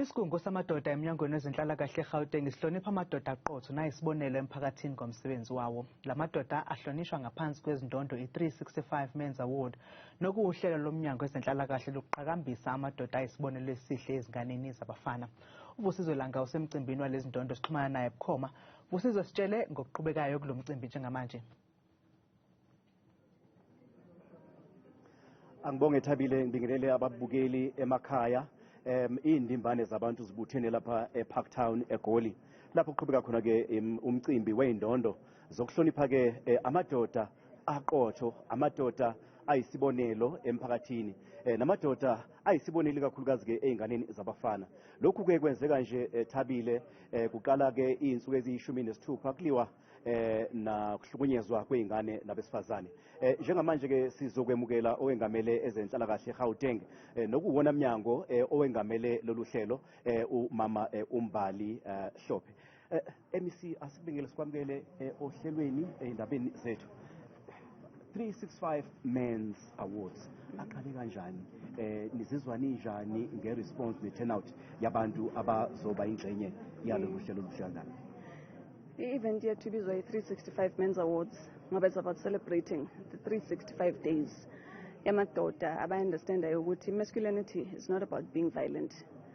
Isigungu samadoda emnyangweni wezenhlalakahle eGauteng sihlonipha amadoda aqotho nayisibonelo emphakathini ngomsebenzi wawo. La madoda ahlonishwa ngaphansi kwezindondo i-365 Men's Award nokuwuhlelo lomnyango wezenhlalakahle lokuqhakambisa amadoda ayisibonelo esihle ezinganeni zabafana. UVusizwe Langa usemcimbini walezindondo sixhumana naye bukhoma. Vusizwe sitshele ngokuqhubekayo kulo mcimbi njengamanje. Angibonge Thabile, ngibingelele ababukeli emakhaya. Um iy'ndimbane zabantu zibuthene lapha ePark Town eGoli lapho kuqhubeka khona-ke um, umcimbi wey'ndondo zokuhlonipha-ke eh, amadoda aqotho amadoda ayisibonelo emphakathini eh, namadoda ayisibonelo ikakhulukazi-ke ey'nganeni zabafana lokhu-ke kwenzeka nje eh, Thabile eh, kuqala-ke iy'nsuku eziyishumi nesithupha kuliwa eh nakuhlukunyezwa kweingane nabesifazane eh njengamanje ke sizokwemukela owengamele ezenhlalakahle eGauteng eh nokuwona mnyango eh owengamele lolu hlelo eh umama eh, uMbali eh, Hlophe eh MEC asibingele sikwamukele eh, ohlelweni endabeni zethu 365 Men's Awards aqale kanjani eh nizizwa ninjani nge response ne turnout yabantu abazoba ingxenye yalo luhlelo luhlangana I-event yethu ibizwa i-365 Men's Awards ngoba it's about celebrating the 365 days yamadoda abayi-understandayo ukuthi masculinity is not about being violent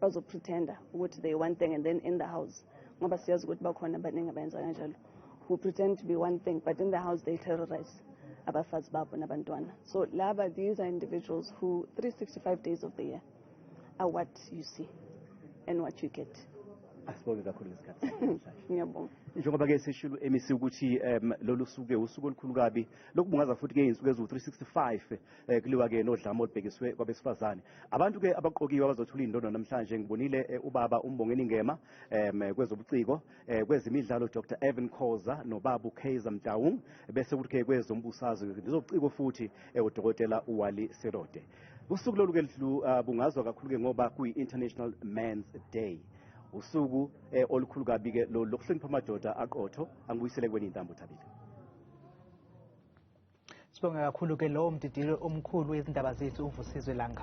bazopretenda ukuthi they one thing and then in the house ngoba siyazi ukuthi bakhona abaningi abayenza kanjalo who pretend to be one thing but in the house they terrorize abafazi babo nabantwana so laba these are individuals who 365 days of the year are what you see and what you get asibonge kakhulu ngesikhathi ngiyabonga njengoba ke sishilo emisi ukuthi um lolu suke usuku olukhulu kabi lokubungaza futhi ke izinsuku eziwu-365 eh, kuliwa ke nodlame olubhekiswe kwabesifazane abantu ke abaqokiwe abazothula indondo namhlanje ngibonile eh, ubaba umbongeni ngema um eh, kwezobuciko eh, kwezemidlalo dr evan khoza nobabu kaiser mtaung bese kuthi ke kwezombusazwe ngezobuciko futhi eh, udokotela uwali serode usuku lolu ke lu- ah, bungazwa kakhulu ke ngoba kuyi-international mans day usuku eh, olukhulu kabi ke lolu lokuhlonipha amadoda aqotho angibuyisele kweni intambo thabile Sibonga kakhulu ke lowo mdidili omkhulu wezindaba zethu uVusizwe Langa.